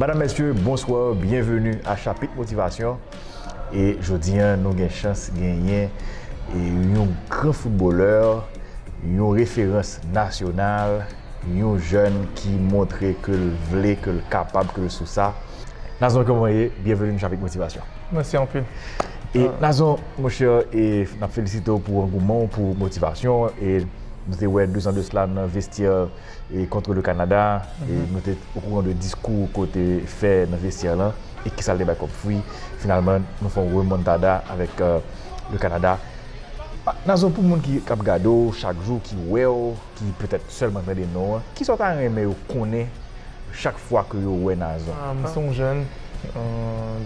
Madam mesye bonswa byenveni a chapit motivasyon e jodi an nou gen chans genyen yon gran foutbolè yon referans nasyonal. Yon jèn ki montre ke l vle, ke l kapab, ke l sou sa. Nazon kòman w ye? Byenveni nan Chapik Motivasyon. Mèsi anpil. E Nazon, monchè, e n ap felisite w pou angouman w pou motivasyon. E nou te wè dezan de sela nan vestyè e Contre le Canada, e nou te okouran de diskou w ke w te fè nan vestyè lan, e kisa l te bay kòm fwi. Finalman, nou fè yon remontada avèk le Canada. Nazon, pou moun ki ap gade w chak jou, ki wè w. ki petèt sèlman tande non an, kisa w ta renmen yo konnen chak fwa ke yo wè Nazon? M se yon jèn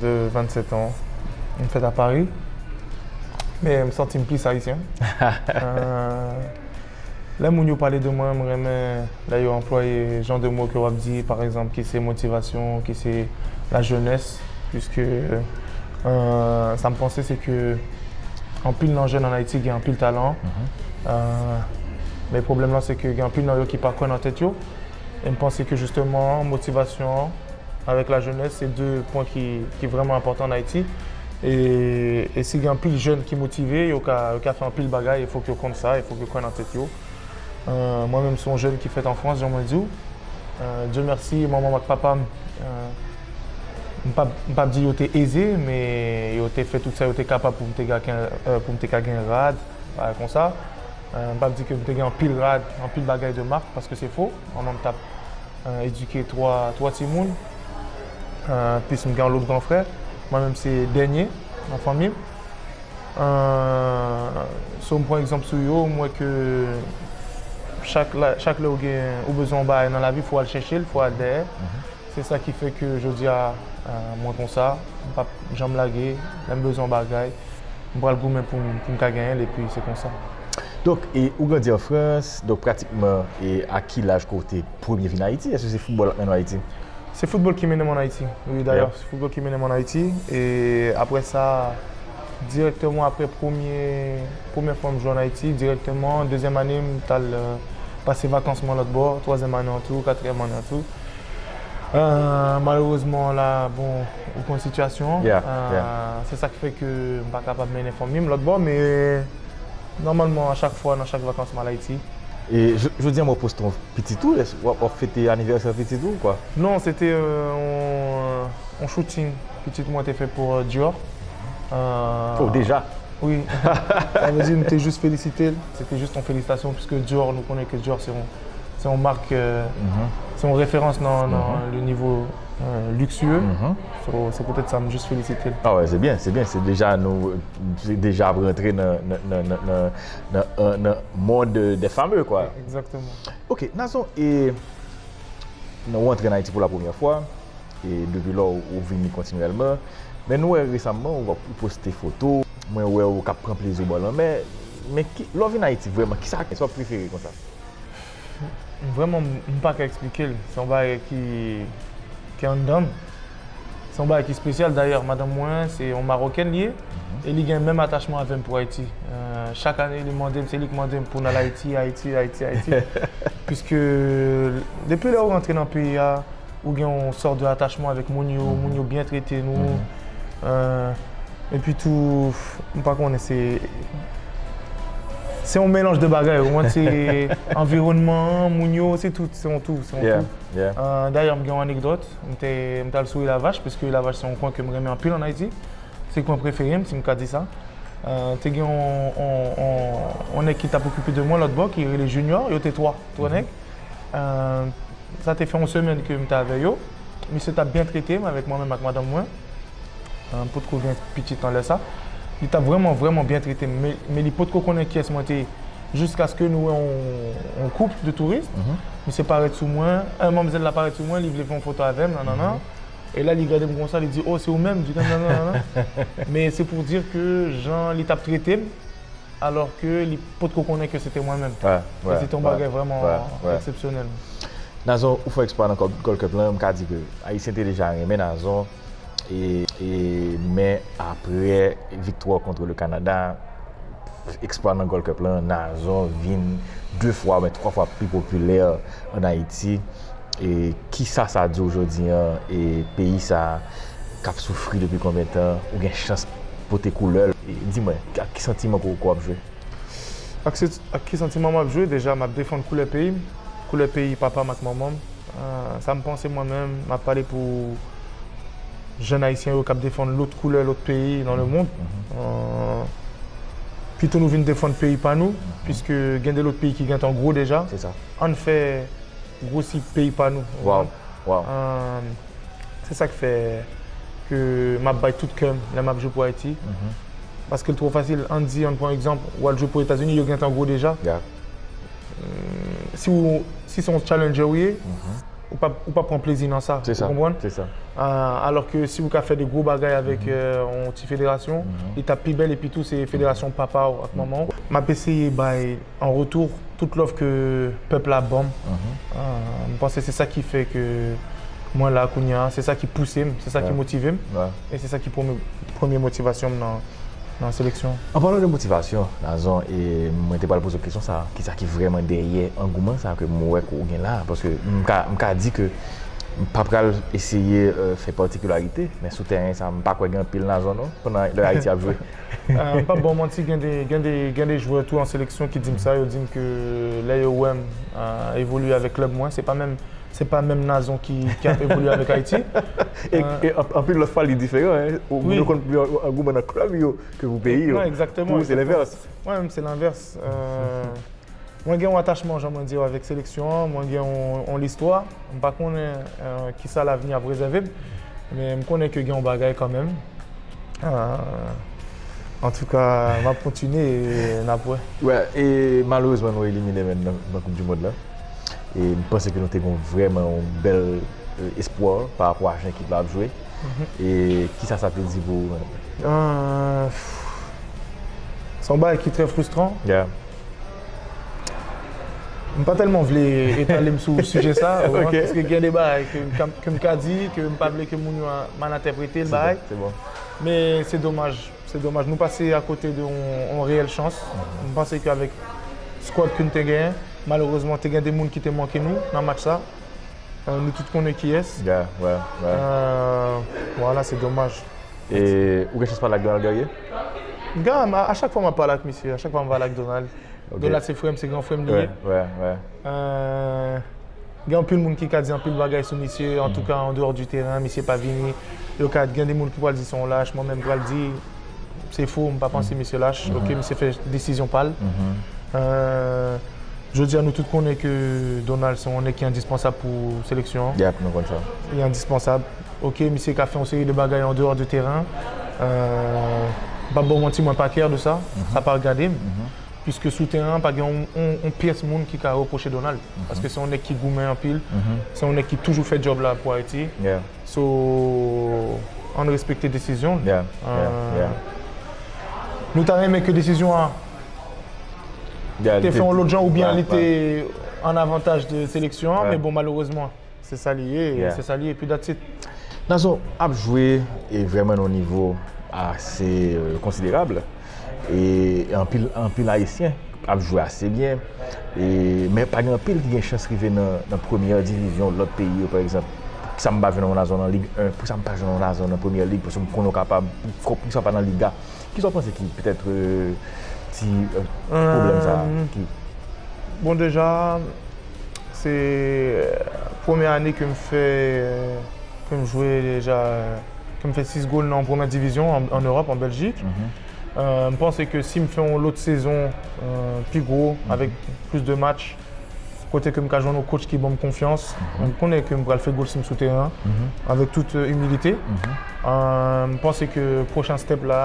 de 27 an, m fèt a Pari, men m santi m plis Ayisyen. Lè moun yo pale de mwen, m renmen lè yo anplwaye jan de mo ke w ap di, pa egzanp, ki se motivasyon, ki se la jenès, piske sa m panse se ke anpil nan jèn an Ayiti gen anpil talan. Men pwoblèm lan se ke gen anpil nan yo ki pa kwè nan tèt yo. E m panse ke jisteman motivasyon an avèk lajenès se de pwen ki vrèman enpòtan an Ayiti. E si gen anpil jèn ki motive, yo ka fè anpil bagay. E fòk yo konn sa, e fòk yo kwè nan tèt yo. Mwen menm se yon jèn ki fèt an Frans, jan mwen di w. Dye mèsi, manman m ak papa m, m p ap di yo te eze, men yo te fè tout sa yo te kapab pou m te ka gen rad. Bagay konsa. M pap di ke m te gen anpil rad, anpil bagay de mak, paske se fo. Manman m t ap edike twa, twa timoun. Plis m gen yon lòt gran frè. Mwen menm se dènye nan fanmi m. So m pran egzanp sou yo, m wè ke chak lè ou gen, ou bezwen yon bagay nan lavi, fò w al chèche l, fò w al dèyè. Se sa ki fè ke jodi a mwen konsa, m p ap janm lage, lè m bezwen yon bagay, m pral goumen pou m ka genyen l epi se konsa. Donk, ou grandi an Frans, donk pratikman a ki laj ke w te premye vin Ayiti? Èske se foutbòl ak mennen w Ayiti? Se foutbòl ki mennen m an Ayiti, wi dayè, se foutbòl ki mennen m an Ayiti e aprè sa dirèkteman aprè premye, premyè fwa m jwe an Ayiti, dirèkteman dezyèm ane m t al pase vakans mwen lòtbò, twazyèm ane an tou, katriyèm ane an tou. Malerezman ou la bon ou konn sitiyasyon an. Yeah, yeah. Se sa ki fè ke m pa kapab mennen fanmi m lòt bò men nòmalman a chak fwa nan chak vakans m al Ayiti. E jodi an mwen poste yon pitit ou, èske w ap fete anivèsè pitit ou ou pa? Non, se te yon shooting pitit mwen te fè pou Dior. Oh deja? Wi. Sa vle di m te jis felisite l, se te jis yon felisitasyon piske Dior nou konnen ke Dior se yon Se yon mark, se yon referans nan le nivo luksye. Se poutèt sa m jis felisite l. A wè, se byen, se byen. Se deja nou, se deja ap rantre nan mond dè fame kwa. Ekzakteman. Ok, Nazon, e nan ou antre nan Ayiti pou la premyè fwa, e depi lò ou vini kontinyèlman, men nou wè resamman ou poste foto, mwen wè ou kap pran plezi w bò lanmè, men lè w vin Ayiti vrèman, kisa w ap prefere konsa? Vreman m pa ka eksplike l. Se yon bagay ki anndan m. Se yon bagay ki espesyal. Dayè, madanm mwen se yon Marokèn li ye. E li gen menm atachman avè m pou Ayiti. Chak ane li mande m, se li ki mande m pou n al Ayiti, Ayiti, Ayiti, Ayiti. Piske depi lè ou rantre nan peyi a. ou gen yon sort de attachement avec moun yo, moun yo byen trete nou, epi tou, m pa konnen se, se yon melanj de bagay, ou konprann, se anviwònman an, moun yo, se tout, se yon tou, se yon tou. Dayè m gen yon anekdòt, m te, m t al sou Ilavach, paske Ilavach se yon kwen ke m renmen anpil an Ayiti, se kwen prefere m, si m ka di sa, te gen yon, yon, yon nèg ki t ap okipe de mwen lòtbò ki rele Junior, yo te 3, 3 nèg. Sa te fè yon semèn ke m te avè yo. Misye t ap byen trete m avèk mwen menm ak madanm mwen. M potko gen pitit nan lè sa. Li t ap vrèman, vrèman byen trete m. Men li potko konnen kiyès mwen te ye. Jiskaske nou wè yon koup de touris. Misye parèt sou mwen. Manmzèl la parèt sou mwen. Li vle fè yon foto avè m. Nanannan. E la li gade m konsa. Li di, O, se ou menm? Nanannan. Men se pou w di ke jan li t ap trete m. Alors ke li pot ko konnen ke se te mwen menm. Sa se te yon bagay vreman eksepsyonèl. Nazon ou fò eksplwa nan Gold Cup lan, m ka di ke Ayisyen te deja renmen Nazon e men apre viktwa kontre le Kanada, eksplwa nan Gold Cup lan, Nazon vin 2 fwa oubyen 3 fwa pi popilè an Ayiti. E kisa sa diw jodi an e peyi sa kap soufri depi konbyen tan ou gen chans pote koulèl e di mwen ak ki santiman ke ou ap jwe? Ak ki santiman map jwe? Deja map defann koulè peyim, koulè peyi papam ak manmanm. Sam panse mwen menm map pale pou jèn ayisyen yo kap defann lòt koulè lòt peyi nan le mond. Pito nou vin defann peyi pa nou, piske gen de lòt peyi ki gentan gwo deja. Ann fè. Gwosi peyi pa nou. Waw waw. Se sak fè ke map bay tout kèm lè map jwe pou Ayiti. Paske l twò fasil. Ann di ann pran egzanp ou al jwe pou Etazini yo gentan gwo deja. Si w si se yon challenger ou ye ou pa ou pa pran plezi nan sa. Ou konprann? Se sa. Alò ke si ou ka fè de gwo bagay avèk yon ti federasyon li tap pi bèl epi tou se federasyon papa w ak manman w. Map eseye bay En retour, tout love ke pèp la banm, m panse se sa ki fè ke mwen la kounya, se sa ki pouse m, se sa ki motive m, e se sa ki premye motivasyon m nan seleksyon an. An palan de motivasyon, Nazon, e mwen te pral poze w kesyon sa, ki sa ki vrèman dèyè angouman sa ke m wè ke w gen la? Paske m ka, m ka di ke m pa pral eseye fè patikularite, men sou tèren sa, m pa kwè gen anpil Nazon non, pandan lè Ayiti ap jwe. M pap baw manti gen de jwè tou an seleksyon ki dim sa yo dim ke lè yo wèm evolye avèk klèb mwen se pa menm se pa menm Nazon ki ap evolye avèk Ayiti. E anpil lòt fwa li diferan hein moun yo konn pran angouman nan klèb yo ke pou peyi yo pou ou se lenvès. Mwen menm se lenvès. Mwen gen yon atachman jan mwen diw avèk seleksyon an, mwen gen yon listwa, m pa konnen kisa lavni ap rezève m, men m konnen ke gen yon bagay kanmenm. Antouka m ap kontinye e n ap wè. Wè, e malerezman nou elimine menn nan koup di mond lan e m panse ke nou te gon vrèman yon bèl espwa pa rapò a jan ekip la ap jwe e kisa sa vle di pou ou menm? Se yon bagay ki trè frustran. M pa tèlman vle etale m sou sijè sa, ou konprann, paske gen de bagay ke m ka di, ke m pa vle ke moun yo mal entèprete l bagay. Se bon. Men se domaj, se domaj. Nou pase akote de yon reyèl chans. M panse ke avèk skuad ke nou te genyen, malerezman te gen de moun ki te manke nou nan match sa. Nou tout konnen kiyès. Ya, ya, ya. Wala, se domaj. E ou gen chans pale ak Donald Guerrier? Gam a chak fwa map pale ak misye a chak fwa map pale ak Donald Donald se frèm se gran frèm li ye gen anpil moun ki ka di anpil bagay sou misye antouka an deyò di teren misye pa vini yo ka gen de moun ki pral di son lach mwen menm pral di se fou mpa panse misye lach ok misye fè desizyon pal jodi a nou tout konnen ke Donald se yon nèg ki endispansab pou seleksyon an yap nou konn sa li endispansab. Ok misye ka fè yon seri de bagay an dehors de terrain m pap baw manti mwen pa kè de sa sa pa regade m puiske sou teren an pa gen yon pyès moun ki ka reproche Donald paske se yon nèg ki goumen anpil se yon nèg ki toujou fè djòb la pou Ayiti so ann respekte desizyon l nou ta renmen ke desizyon an te fè yon lòt jan oubyen li te an avantaj de seleksyon an men bon malerezman. Se sa li ye, se sa li ye, epi that's it. Nazon ap jwe e vrèman nan yon nivo ase konsiderab e anpil anpil ayisyen ap jwe ase byen e men pa gen anpil ki gen chans rive nan premyè divizyon lòt peyi yo pa egzanp pou sa m pa jwenn yon Nazon nan Ligue 1 pou sa m pa jwenn yon Nazon nan premyè lig paske m konnen w kapab pou sa w pa nan Liga kisa w panse ki petèt ti pwoblèm sa a ki. Bon deja Se premye ane ke m fè, ke m jwe deja, ke m fè 6 gol nan premè divizyon an Ewòp, an Bèljik. M panse ke si m fè yon lòt sezon pi gwo, avèk plis de match, kote ke m ka jwenn yon kotch ki ban m konfyans, m konnen ke m pral fè gol si m sou teren an, avèk tout imilite. M panse ke pwochen stèp la.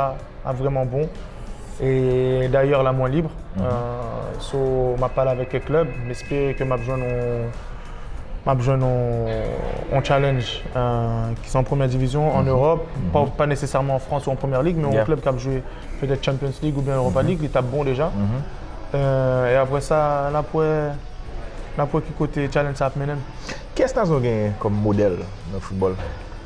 ap vreman bon. E dayè la mwen libre. So m ap pale avèk kèk klèb. M espere ke m ap jwenn yon m ap jwenn yon challenge ki se an premyè divizyon an Ewòp. Pa nesesèman an Frans ou an Premyè Lig men yon klèb k ap jwe petèt Champions League oubyen Europa League li t ap bon deja. E aprè sa n ap wè n ap wè ki kote challenge sa ap mennen m. Kiyès Nazon genyen kòm modèl nan foutbòl?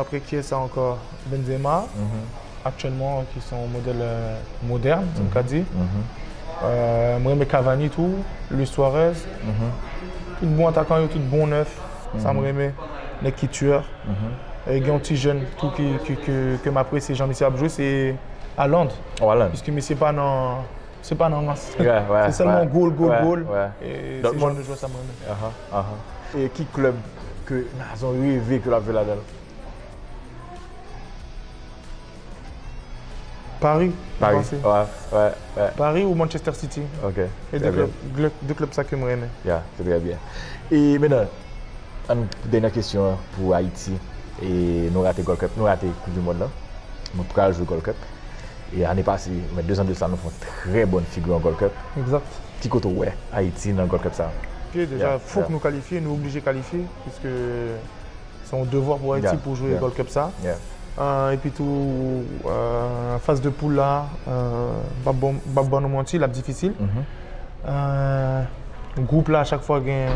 Apre kiyes ankò? Benzema aktyèlman ki se yon modèl modèn si m ka di. M renmen Cavani tou, Luis Suarez. Tout bon atakan yo, tout bon nèf. Sa m renmen. Nèg ki tiyè. Gen yon ti jèn tou ke m apresye jan misye ap jwe se Haaland. Piske misye pa nan, se pa nan rans. Se sèlman gol, gol, gol. Se jan de jwè sa m renmen. Ahh e ki club ke Nazon reve ke lap jwe ladanl? Paris mwen panse. Paris wè wè wè. Paris ou Manchester City. Ok. E de club glè de club sa kem renmen. Ya se trè byen. E menan ann dènyè kesyon an pou Ayiti e nou rate Gold Cup nou rate koup du mond lan. Nou pral jwe Gold Cup. E ane pase, men 2 zan de sa nou fè yon trè bòn figi an Gold Cup. Exact. Ki kote w wè Ayiti nan Gold Cup sa a? Ke deja fok nou kalifye, nou oblije kalifye piske se yon devwa pou Ayiti pou jwe Gold Cup sa a. Epi tou faz de poul la, m p ap ban nou manti, l ap difisil. Gwoup la chak fwa gen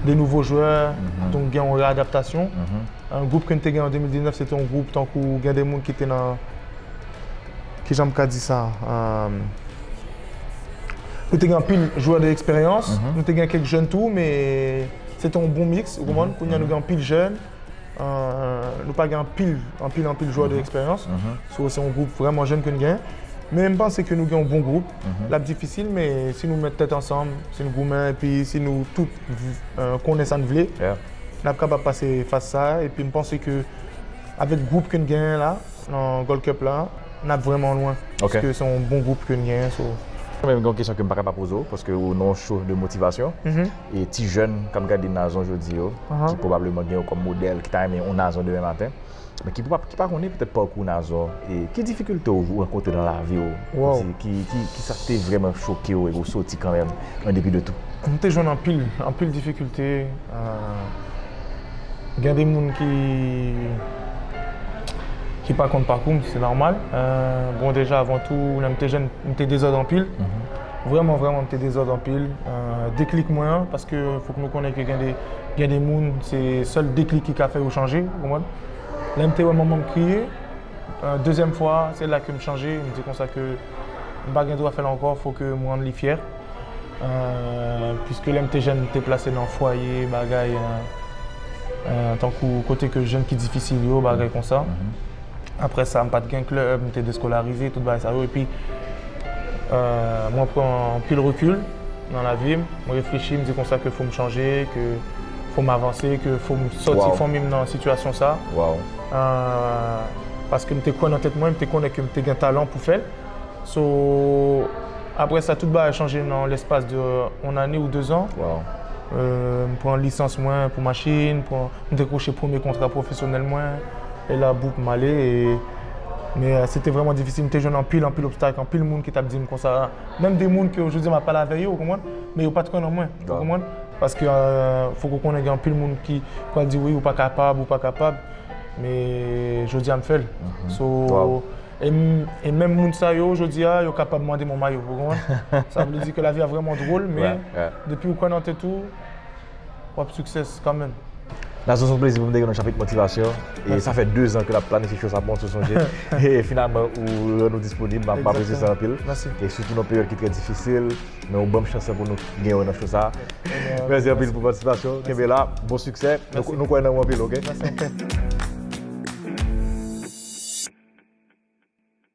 de nouvo jwè, donk gen yon readaptasyon. Gwoup ke n te gen an 2019 se te yon gwoup tankou gen de moun ki te nan. Kijan m ka di sa? Nou te gen anpil jwè de eksperyans, nou te gen kèk jèn tou, men se te yon bon miks, ou konprann? Kounye a nou gen anpil jèn, nou pa gen anpil, anpil, anpil jwè de eksperyans. So, se yon gwoup vrèman jèn ke n gen. Men m panse ke nou gen yon bon gwoup. L ap difisil, men si nou met tèt ansanm, si nou goumen, epi si nou tout konnen sa n vle, n ap kapab pase faz sa a. Epi m panse ke. Avèk gwoup ke n genyen la nan Gold Cup la, n ap vrèman lwen. Paske se yon bon gwoup ke n genyen so. Mwen gen yon kesyon ke m pa ka pa poze w, paske ou nan yon show de motivation. E ti jèn k ap gade Nazon jodi yo, ki pwobableman gen ou kòm modèl, ki ta renmen yon Nazon demen maten, men ki pa konnen petèt pakou Nazon, e ki difikilte ou rankontre nan lavi ou? Ki sa k te vrèman choke ou e ou soti kanmenm an depi de tou? M te jwenn anpil, anpil difikilte. Gen de moun ki ki pa konn pakou m, se nòmal. Bon deja avan tou, lè m te jèn, m te dezòd anpil. Vrèman vrèman m te dezòd anpil. Deklik mwen an, paske fòk nou konnen ke gen de gen de moun se sèl deklik ki ka fè yo chanje, ou konprann. Lè m te wè manman m kriye, dezyèm fwa a, se la ke m chanje, m di konsa ke m pa gen dwa fè l ankò, fò ke m rann li fyè. Piske lè m te jèn m te plase nan fwaye bagay tankou kote ke jèn ki difisil yo bagay konsa. Aprè sa m pa t gen klèb, m te deskolarize tout bagay sa yo. Epi mwen pran anpil rekil nan lavi m, m reflechi m di konsa ke fò m chanje, ke fò m avanse, ke fò m sòti fanmi m nan sitiyasyon sa. Paske m te kwè nan tèt mwen, m te konnen ke m te gen talan pou fè l. So, aprè sa tout bagay chanje nan lespas de on ane ou de zan. Waw. M pran lisans mwen pou machin, m dekwoche premye kontra pwofesyonèl mwen, e la boum m ale. Men se te vrèman difisil, m te jwenn anpil anpil obstak, anpil moun ki t ap di m konsa, menm de moun ke jodi a m ap pale avè yo, ou konprann, men yo pa t kwè nan mwen, ou konprann. Paske fòk ou konnen gen anpil moun ki pral di wi ou pa kapab, ou pa kapab, men jodi a m fè l. So. E menm moun sa yo jodi a yo kapab mande mwen mayo pou mwen. Sa vle di ke lavi a vreman drol men depi ou kwè nan tèt ou wap success kan menm. Nazon son plezi pou m te gen nan chapit motivasyon e sa fè 2 zan ke nap planifye cho sa bon sou sonje e finalman ou rann ou disponib m apresye sa anpil e sitou nan peryòd ki trè difisil Men ou banm chans pou nou gen yo nan show sa. Merci anpil pou participation. Kenbe la. Bon succès. Nou kwè nan ou anpil ok.